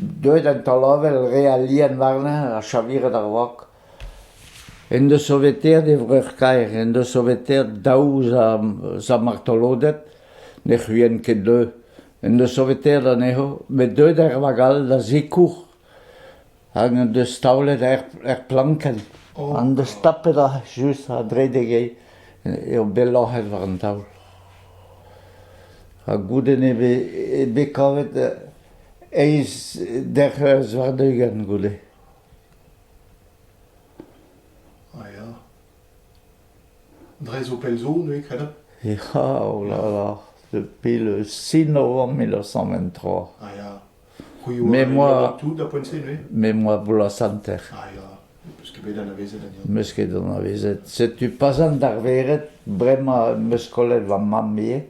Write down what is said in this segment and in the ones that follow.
Deuet an taol-avel re alian warnañ ha chaviret ar wok. En deus soveteet e vreur-kaer, en deus soveteet daou zamartoloded, ne c'huient ket deuet. En deus soveteet anezho, met deuet er vag all da zikour. hag en deus taolet er plankenn. En deus tapet just a-dredek eo bet loc'het war an taol. Ha goude n'eo bet kavet eizh derc'heurs warn-ugent goude. Ah ya. Dre zo pell zo, neuze, kredet? Ya, oh là là, depuis le 6 novembre 1923. Ah ya. Me moa... Me moa bloaz-hanter. Meus ket anavezet. Setu pas an darveret, bremañ meus kollet va mamm ivez.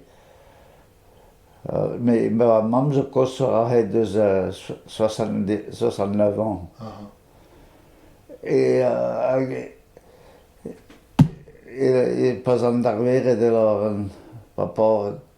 Mais ma mamm zo koshoc'h ahet eus 69 ans. Et, et, et pas an darveret alors, par rapport